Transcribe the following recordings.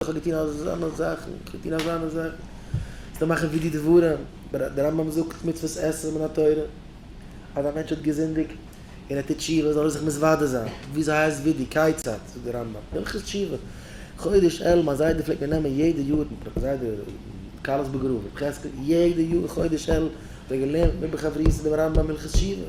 איך האב געטון אזאנע זאכן, איך האב געטון אזאנע זאכן, זיי מאכן ווי די דברים, דער רמב ם זאגט מצוות עשה מן התורה, אז א מענטש האט געזינדיגט און ער טוט תשובה זאל ער זיך מתוודה זיין, וויאזוי הייסט ווי די כיצד, זאגט דער רמב ם, הלכות תשובה, חודש אלול מיין זיידע פלעגט מיר נעמען יעדע יאר, מיט מיין זיידע כלת בגרוב ר' חזקאל, יעדע יאר חודש אלול האט ער געלערנט מיט מיר בחברותה דעם רמב ם הלכות תשובה.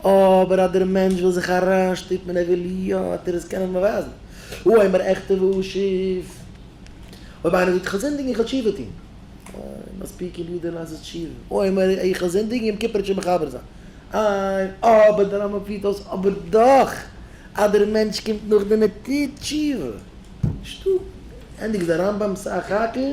אבער אז דער מענטש וויל זיך אריינשטופן אין ער וויל יא האט ער עס קענען באווייזן, הוא אומר עכתב והוא אשיב, אויב איינער זאגט איך האב זינדיגן איך האב תשובה טון, איי מספיק אין דיר דער לאזט עס תשובה, הוא אומר איך האב זינדיגן יום כיפור תשובה מחבר זיין, איי אבער דער רמב ם פירט אויס אבער דאך אז דער מענטש קומט נאכדעם ער טוט תשובה, שטופ, ענדיגט דער רמב ם'ס א חק ל.